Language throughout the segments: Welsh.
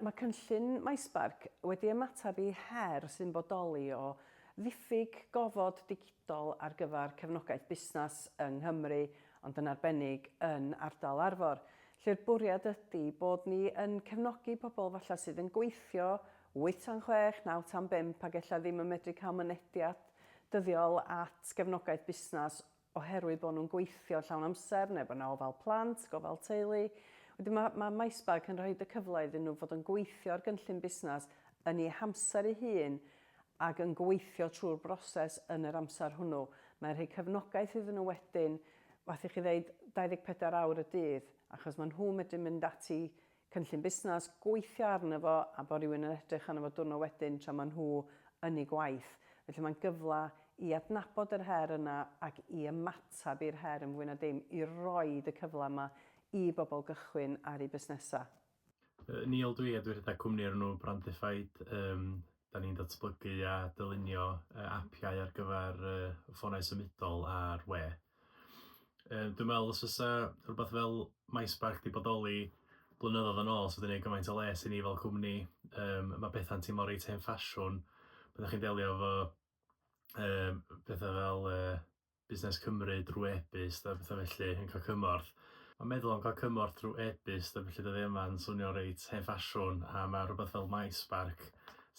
Mae cynllun MySpark wedi ymateb i her sy'n bodoli o ddiffyg gofod digidol ar gyfer cefnogaeth busnes yng Nghymru, ond yn arbennig yn ardal Arfor, lle'r bwriad ydy bod ni yn cefnogi pobl falle sydd yn gweithio wyth tan chwech, naw tan bump ac ella ddim yn medru cael mynediad dyddiol at gefnogaeth busnes oherwydd bod nhw'n gweithio llawn amser neu bod 'na ofal plant, gofal teulu. Wedyn ma' ma' Maesbarc yn rhoid y cyfle iddyn nhw fod yn gweithio ar gynllun busnes yn eu hamser eu hun ac yn gweithio trwy'r broses yn yr amser hwnnw. Mae'n rhoi cefnogaeth iddyn nhw wedyn, wrth i chi ddeud 24 awr y dydd, achos ma' nhw'n medru mynd ati cynllun busnes, gweithio arno fo a bod rhywun yn edrych arno fo diwrnod wedyn tra maen nhw yn eu gwaith. Felly mae'n gyfle i adnabod yr her yna ac i ymateb i'r her yn fwy na dim, i roid y cyfle yma i bobl gychwyn ar eu busnesau. Neil dw i a dwi rhedeg cwmni o'r enw Brandified. Yym 'da ni'n datblygu a dylunio yy apiau ar gyfer yy ffonau symudol ar we. Yy dwi'n meddwl os fysa rhywbeth fel MySpark 'di bodoli blynyddoedd yn ôl, 'sa wedi neud gymaint o les i ni fel cwmni. Yym ma' petha'n teimlo reit hen ffasiwn pan 'dach chi'n delio efo yym petha fel yy Busnes Cymru drwy e-byst a pethau felly yn cael cymorth. Mae'n meddwl am gael cymorth drwy e-byst a felly dydy yma'n swnio reit hen ffasiwn a mae rhywbeth fel MySpark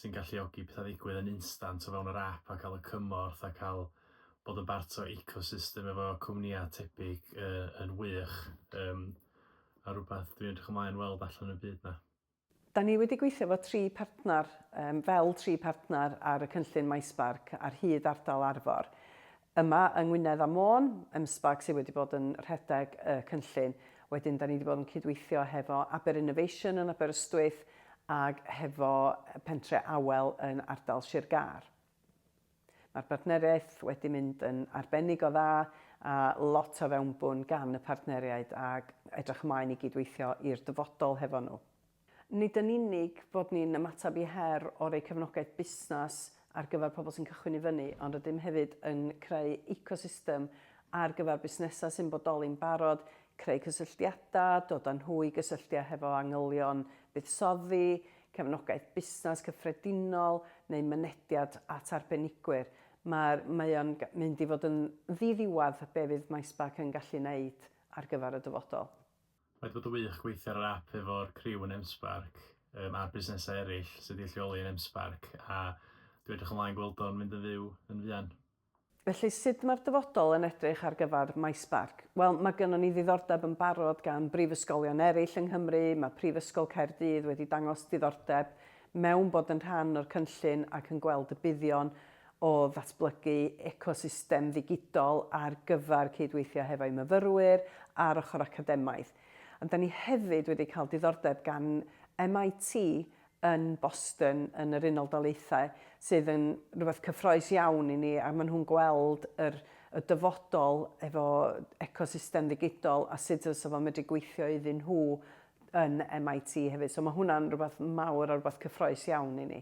sy'n galluogi pethau ddigwydd yn instant o fewn yr ap a cael y cymorth a cael bod yn bart o ecosystem efo cwmnïau tebyg yn wych a rhywbeth dwi'n edrych ymlaen weld allan yn y byd 'na. Da ni wedi gweithio efo tri partner, yym fel tri partner ar y cynllun MySparc ar hyd ardal Arfor. Yma yng Ngwynedd a Môn, MSparc sydd wedi bod yn rhedeg y cynllun. Wedyn da ni wedi bod yn cydweithio hefo Aber Innovation yn Aberystwyth ac hefo Pentre Awel yn ardal Sir Gâr. Mae'r partneriaeth wedi mynd yn arbennig o dda a lot o fewnbwn gan y partneriaid ac edrych ymlaen i gyd-weithio i'r dyfodol hefo nhw. Nid yn unig bod ni'n ymateb i her o roi cefnogaeth busnes ar gyfer pobl sy'n cychwyn i fyny, ond rydym hefyd yn creu ecosystem ar gyfer busnesau sy'n bodoli'n barod, creu cysylltiadau, dod â nhw i gysylltiau hefo angylion buddsoddi, cefnogaeth busnes cyffredinol neu mynediad at arbenigwyr. Mae'r, mae o'n mynd i fod yn ddiddiwedd be fydd MySpark yn gallu wneud ar gyfer y dyfodol. Mae 'di bod yn wych gweithio ar yr app efo'r criw yn MSpark yym a'r busnesau eraill sydd 'di ei lleoli yn MSpark a dwi edrych ymlaen gweld o'n mynd yn fyw yn fuan. Felly, sut mae'r dyfodol yn edrych ar gyfer MySparc? Wel, mae gynnon ni ddiddordeb yn barod gan brifysgolion eraill yng Nghymru, mae Prifysgol Caerdydd wedi dangos diddordeb mewn bod yn rhan o'r cynllun ac yn gweld y buddion o ddatblygu ecosystem ddigidol ar gyfer cydweithio hefo'u myfyrwyr a'r ochr academaidd. Ond 'da ni hefyd wedi cael diddordeb gan MIT yn Boston yn yr Unol Daleithiau sydd yn rhywbeth cyffroes iawn i ni a maen nhw'n gweld yr, y dyfodol efo ecosystem ddigidol a sut fysa fo'n medru gweithio iddyn nhw yn MIT hefyd. So mae hwnna'n rhywbeth mawr a rhywbeth cyffroes iawn i ni.